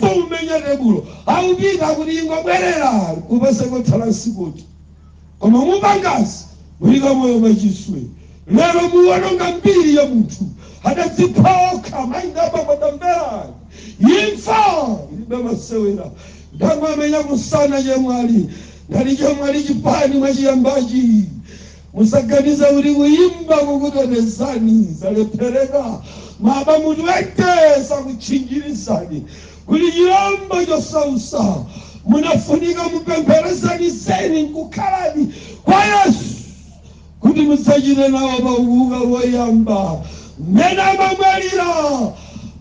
kumenya tebulo akupita kuti ingobwerera kupasa kotsala msikuti koma mupangazi mulika moyo machiswe lero muwononga mbiri ya munthu adadzipha okha maingapa madambera imfa ilibe masewera ndamwe amenya kusana chemwali ngati chemwali chipani mwachiyambachi Musaganize kuti kuyimba kukutetezani zalephereka. Ma bamu 20 sakutchinjirizani kuli chilombo chosausa. Mumafunika mupemphere zeni zeni nkukhaladi kwa Yesu kuti mudzachite nawo pa kuuka woyamba. Mmene amabwerera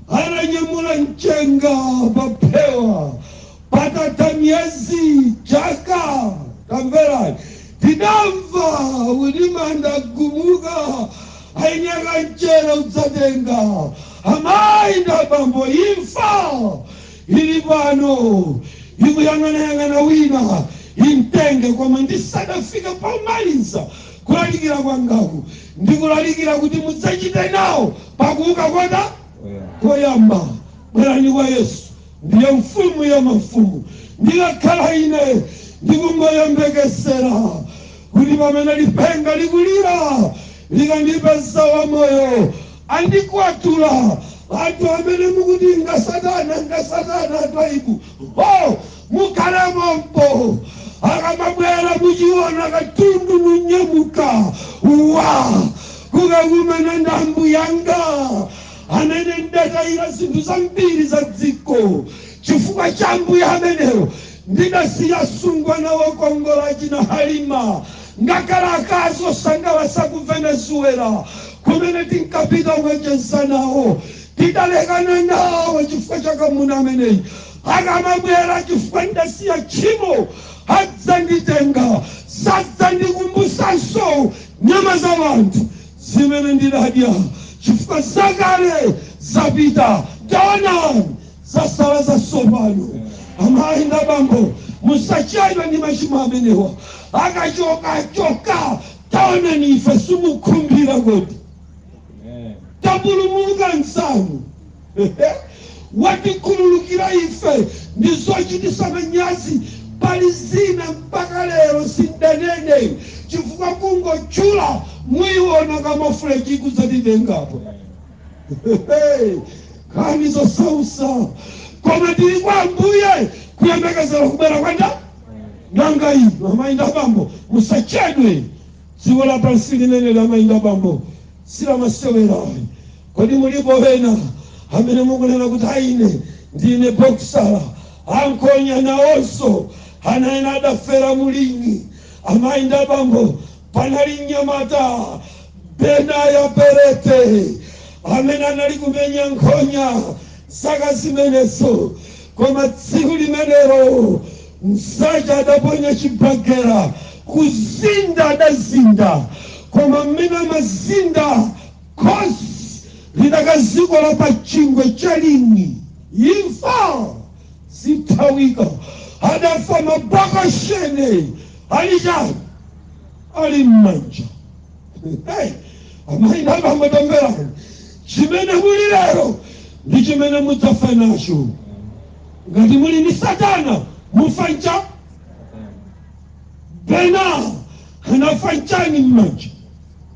ananyamula mchenga pa phewa Patatha miyezi, chaka, tamverani, tidamva kuti manda agumuka, aeni akanjere udzatenga, amayi ndi abambo, imfa ili pano ikuyang'anayang'ana wina imtenge. Koma ndisadafike pomaliza kulalikira kwangaku, ndikulalikira kuti mudzachite nawo pakuuka koyamba. Bwerani kwa Yesu, Ndiye Mfumu ya mafumu. Ndikakhala ine ndikungoyembekezera kuti pamene lipenga likulira likandipeza wamoyo, andikwatula anthu amene mukuti ngasatana ngasatana anthu aibu ho mukhale mompo akamabwera mudziona katundu munyamuka wa kukakumana ndi Ambuye anga amene ndidataira zinthu zambiri za dziko chifukwa cha ambuye amenewo ndidasiya asungwana okongola achina halima ngakhale akazi osangalatsa ku venezuela kumene tinkapita kukacheza nawo tidalekana nawo chifukwa cha mwamuna ameneyi akamabwera chifukwa ndidasiya tchimo adzanditenga sadzandikumbusanso nyama za wanthu zimene ndidadya, chifukwa zakale zapita, taonani, zakhala zatsopano. Amayi ndi abambo, musachedwe ndi machimo amenewa. Akachoka achoka, taonani ife simukhumbira kodi? Tapulumuka msanu. Watikhululukira ife ndi zochitisa manyazi pali zina mpaka lero sindanene chifukwa kungotchula muiona camouflage ikudzatitenga apa nkhani zosausa koma tili kwa ambuye kuyembekezera kubwera kwa nda nanga inu amayi ndi abambo musachedwe dziko lapansi limeneli amayi ndi abambo si lamasewera ayi Kodi mulipo ena amene mukunena kuti a ine ndine bokisala? A nkhonya nawonso ana ena adafera mu ling'i. Amayi ndi abambo, panali mnyamata Benaya Perete amene anali kumenya nkhonya zaka zimenezo. Koma tsiku limenelo mzache adaponya chibagera, kuzinda adazinda, koma mmene amazinda Khosi lidakazikola pa chingwe cha ling'i imfa sithawika adafa ma boxing ali chani ali mmanja hey, amayi nabambo tamverani chimene muli lero ndi chimene mudzafa nacho ngati muli ndi satana mufa nacho Bena anafa nchani mmanja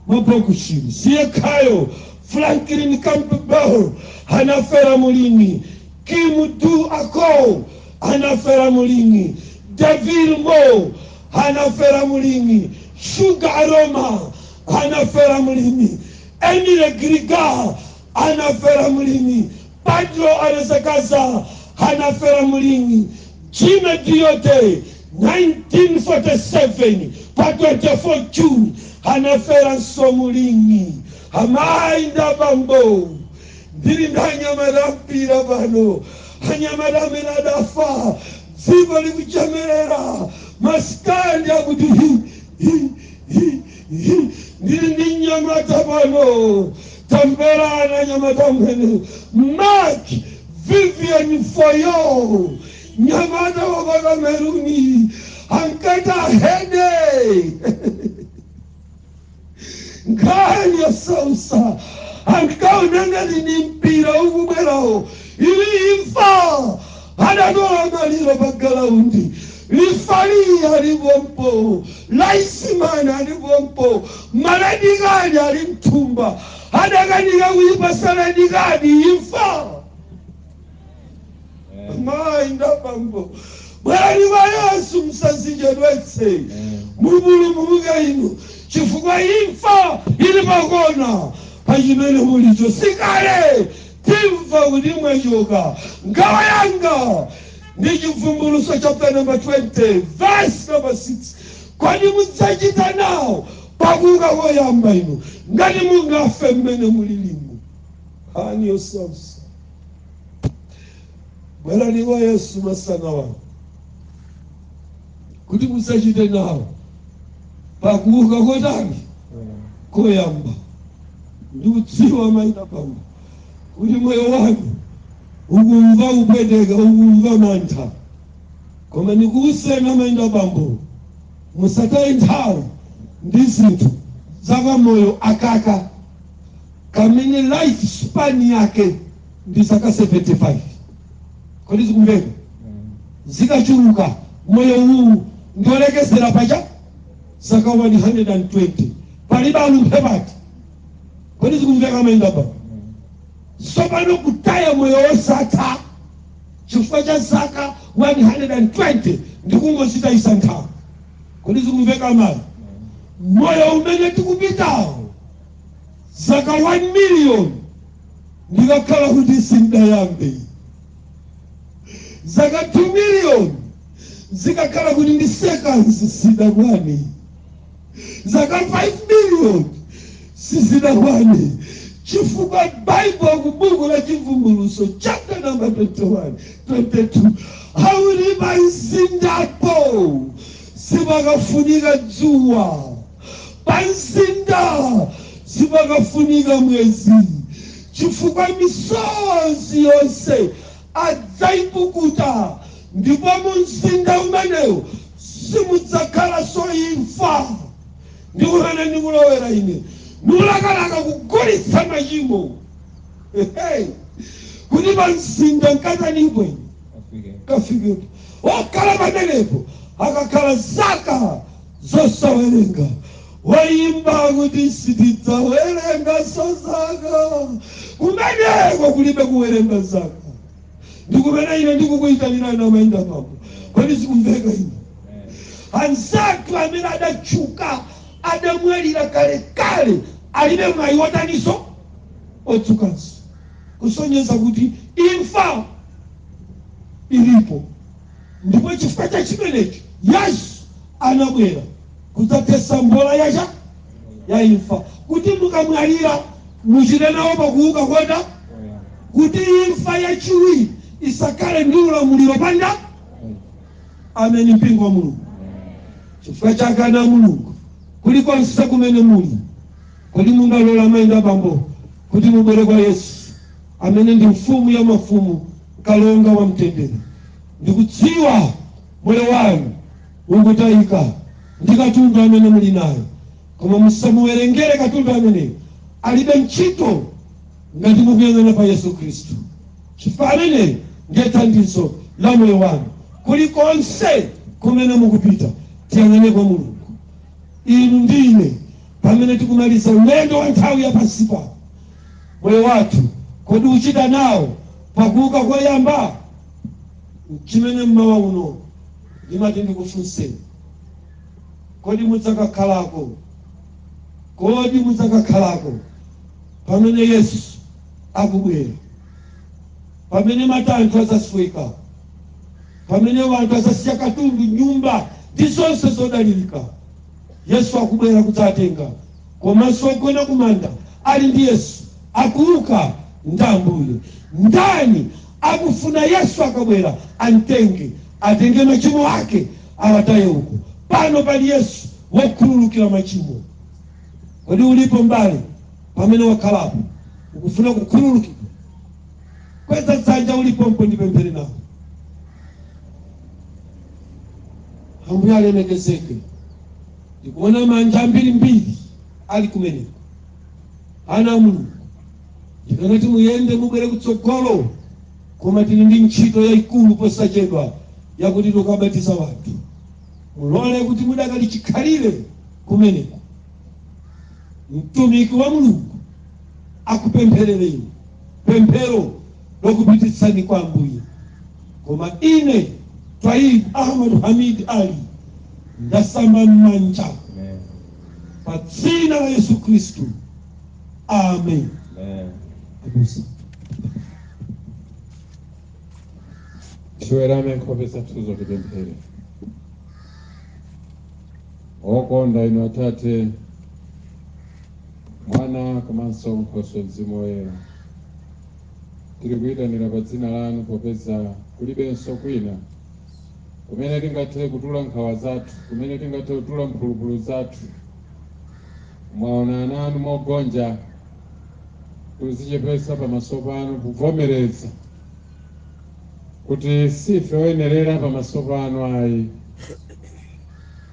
wa Bokushiri siyekhayo Franklin Campbell anafera mulimi Kim Du Akow anafera mulimi David Mo anafera mulimi Sugar Aroma anafera mulimi Emile Griga anafera mu ling'i, Pedro Alcazar, anafera mu ling'i, Jimmy Doyle 1947 pa 24 June anaferanso mu ling'i, amayi ndi abambo ndili ndi anyamata ampira pano, anyamata amene adafa dziko likuchemerera, masitandi akuti hi hi hi Ndili ndi mnyamata pano, tamverani mnyamata ameneyo, Marc Vivien Foe, mnyamata wa pa Kameruni ankati ahede nkhani yosausa ankaona ngati ndi mpira ukubwerawo ili imfa Anatola maliro pa galaundi, lifaliyi ali pompo, layisimani ali pompo, ma redikadi ali mthumba, adakanika kuyipatsa redikadi imfa. Mayi ndabambo, bwerani kwa Yesu musazichedwetse, mupulumuke inu chifukwa imfa ili pakona pachimene mulicho sikale. Timva kuti mwatchuka. Nkhawa yanga ndi Chibvumbulutso chaputala namba 20 vesi namba 6. Kodi mudzachita nawo pa kuuka koyamba inu ngati mungafe mmene mulilimu? Nkhani yosausa. Bwerani kwa Yesu masana wanu. kuti mudzachite nawo pa kuuka kotani koyamba ndikudziwa mayi ndi bambo kuti moyo wanu ukumva kupweteka ukumva mantha koma ndikuuzeni mayi ndi bambo musataye nthawi ndi zinthu za kamoyo akaka kamene life span yake ndi zaka 75 kodi zikumveka zikachuluka moyo uwu ndi wolekezera pa zaka 120 palibe alumphe mpati kodi zikumveka mayi ndi bambo tsopano kutaya moyo wosatha chifukwa cha zaka 120 ndi kungodzitayitsa nthawi kodi zikumveka mayi moyo umene tikupitawu zaka 1 million zikakhala kuti sizidayambe zaka 2 million zikakhala kuti ndi seconds sizidakwane zaka 5 million sizidakwane chifukwa baibulo ku buku la chivumbulutso chapter number 21 22 akuti pa mzindapo sipakafunika dzuwa Pa mzinda sipakafunika mwezi, chifukwa misozi yonse adzaipukuta, ndipo mu mzinda umenewo simudzakhalanso imfa. Ndi kumene ndikulowera ine, ndikulakalaka kugulitsa machimo kuti pa mzinda nkatanipo ine nkafikepo okhala pamenepo akakhala zaka Zosawerenga, Woyimba akuti, Sitidzawerenganso zaka. Kumeneko kulibe kuwerenga zaka. Ndi kumene ine ndikukuyitanirani amayi ndi abambo. Kodi zikumveka izi? Anzathu amene adatchuka adamwalira kalekale, alibe mwayi wotaninso? Oukanso. Kusonyeza kuti imfa ilipo. Ndipo chifukwa cha chimenecho Yesu anabwera kudzathetsa mbola ya cha ya imfa, kuti mukamwalira muchite nawo pakuuka koyamba, kuti imfa yachiwiri isakhale ndi ulamuliro pa inu. Ameni, mpingo wa Mulungu. Chifukwa chake ana a Mulungu, kulikonse kumene muli, kodi mungalola mayi ndi bambo kuti mubwere kwa Yesu amene ndi mfumu ya mafumu Kalonga wa Mtendere. Ndikudziwa moyo wanu ukutayika ndi katundu amene muli naye, koma musamuwerengere katundu ameneyo, alibe ntchito ngati mukuyang'ana pa Yesu Khristu, chifukwa ameneyo ndiye thandizo la moyo wanu. Kulikonse kumene mukupita, tiyang'ane kwa Mulungu, inu ndi ine, pamene tikumaliza ulendo wa nthawi ya pansi pano. Moyo wathu kodi uchita nawo pa kuuka koyamba? N'chimene m'mawa uno ndimati ndikufunseni. Kodi mudzakakhalako? Kodi mudzakakhalako pamene Yesu akubwera? Pamene matanthwe adzasweka, pamene wanthu adzasiya katundu, nyumba ndi zonse zodalirika, Yesu akubwera kudzatenga komanso ogona kumanda ali ndi Yesu, akuuka ndi Ambuye. Ndani akufuna Yesu akabwera amtenge, atenge machimo ake awataye uko? Pano pali Yesu wokhululukira machimo. Kodi ulipo mbale pamene wakhalapo ukufuna kukhululukidwa? Kweza dzanja ulipompo, ndipemphere nawo. Ambuye alemekezeke. Ndikuona manja ambirimbiri ali kumeneko. Ana a Mulungu, ndikanati muyende mubwere kutsogolo, koma tili ndi ntchito yayikulu posachedwa yakuti tikabatize wanthu. Mulole kuti mudakali chikhalire kumeneko. Mtumiki wa Mulungu akupempherereni pemphero lokupititsani kwa Ambuye. Koma ine Twaib Ahmad Hamid Ali ndasamba m'manja pa dzina la Yesu Khristu. Amen. Abusa. tiwerame nkhope zathu kuti tipemphere okonda inu atate mwana komanso nkhoswe mzimu woyera tiri kuyitanira pa dzina lanu popeza kulibenso kwina kumene tingathe kutula nkhawa zathu, kumene tingathe kutula mphulupulu zathu. Mwaona ana anu mogonja, kuzichepesa pamaso panu, kuvomereza kuti sife oyenerera pamaso panu ayi,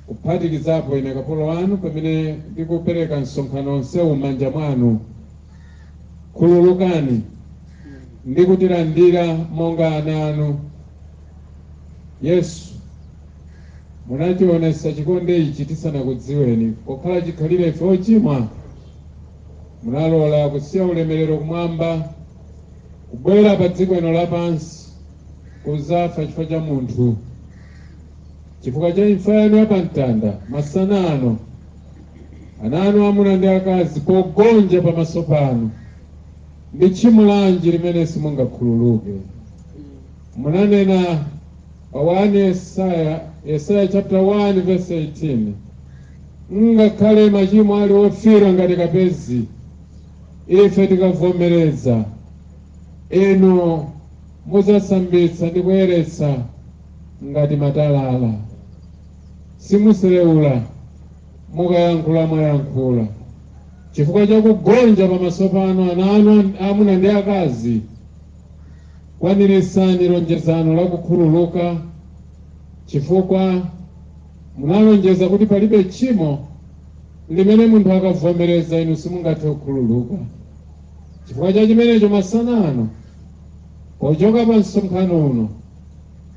kuphatikizapo ine kapolo wanu pamene ndikupereka msonkhano onsewu m'manja mwanu. Khululukani ndi kutilandira monga ana anu yesu munationetsa chikondi ichi tisanakudziweni pokhala chikhalire ife ochimwa munalola kusiya ulemerero kumwamba kubwera pa dziko ino lapansi kudzafa chifukwa cha munthu chifukwa cha imfa yanu ya pamtanda masana ano ana anu amuna ndi akazi pogonja pamaso panu Ndi tchimo lanji limene simungakhululuke? Munanena pa 1 Yesaya, Yesaya chapter 1 verse 18, ngakhale machimo ali ofiira ngati kapezi, ife tikavomereza, inu mudzasambitsa ndi kuyeretsa ngati matalala. Simuseleula mukayankhula mwayankhula. Chifukwa cha kugonja pamaso panu, ana anu aamuna ndi aakazi, kwaniritsani lonjezano la kukhululuka, chifukwa munalonjeza kuti palibe tchimo limene munthu akavomereza inu simungathe kukhululuka. Chifukwa cha chimenecho, masana ano, pochoka pa msonkhano uno,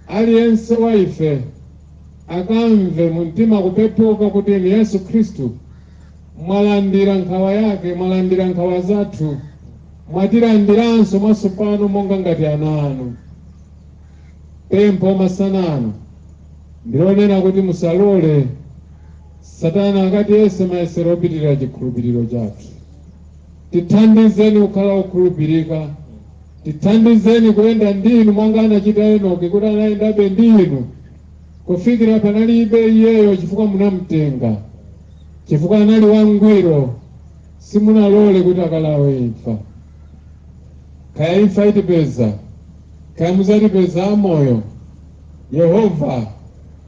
aliyense wa ife akamve mu mtima kupepuka kuti inu Yesu Khristu Mwalandira nkhawa yake, mwalandira nkhawa zathu, mwatilandiranso mwatsopano monga ngati ana anu. Pempho masana ano ndilonena kuti musalole Satana akatiyese mayesero opitirira chikhulupiriro chathu. Tithandizeni kukhala okhulupirika, tithandizeni kuyenda ndi inu monga anachita Enoki kuti anayendabe ndi inu Kufikira panalibe iyeyo chifukwa munamtenga. Chifukwa anali wangwiro, simunalole kuti akalawe imfa. Kaya imfa itipeza, kaya muzatipeza amoyo, Yehova,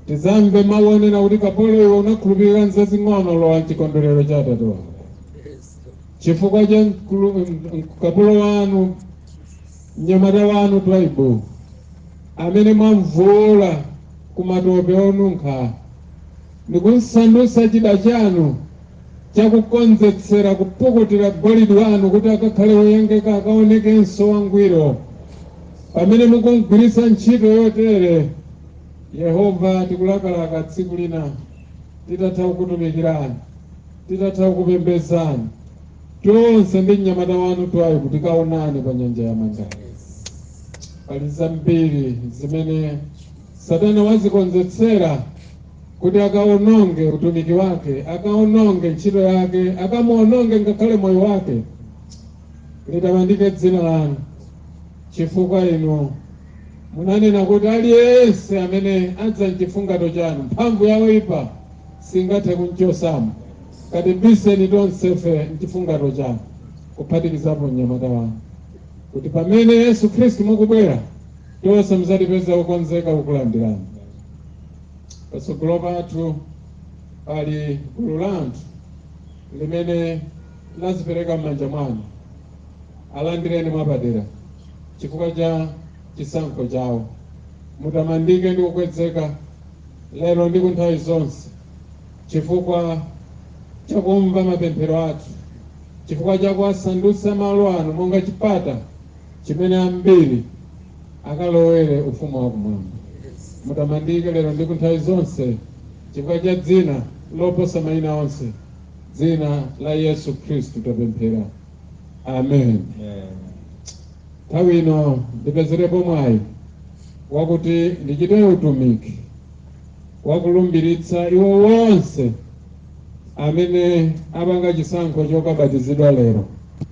tidzamve mau onena kuti, Kapolo iwe, unakhulupirika m'zazing'ono, lowa m'chikondwerero cha atate wako. Chifukwa cha kapolo wanu Mnyamata wanu Twaibu, amene mwamvuula ku matope onunkha ndi kumsandutsa chida chanu cha kukonzetsera kupukutira golidi wanu kuti akakhale woyengeka, akaonekenso wangwiro, pamene mukumgwiritsa ntchito yotere, Yehova, tikulakalaka tsiku lina titatha kukutumikirani, titatha kukupembedzani. Tonse ndi mnyamata wanu Twaibu tikaonane pa nyanja ya Mandala. Pali zambiri zimene Satana wazikonzetsera kuti akaononge utumiki wake, akaononge ntchito yake, akamuononge ngakhale moyo wake. Litamandike dzina lanu chifukwa inu munanena kuti aliyense amene adza mchifungato chanu mphamvu ya woipa singathe kumchotsamo katibiseni tonsefe mchifungato chanu kuphatikizapo mnyamata wanu kuti pamene yesu khristu mukubwera tonse mudzatipeze okonzeka kukulandirani patsogolo pathu pali gulu la anthu limene lazipereka m'manja mwanu alandireni mwapadera chifukwa cha chisankho chawo mutamandike ndi kukwezeka lero ndi ku nthawi zonse, chifukwa cha kumva mapemphero athu, chifukwa cha kuwasandutsa malo ano monga chipata chimene ambiri akalowere ufumu wa kumwamba. Mutamandike lero ndi ku nthawi zonse chifukwa cha dzina loposa mayina onse, dzina la Yesu Khristu tapemphera. Amen. Amen. Nthawi ino ndipezerepo mwayi wakuti ndichite utumiki wakulumbiritsa iwo onse amene apanga chisankho chokabatizidwa lero.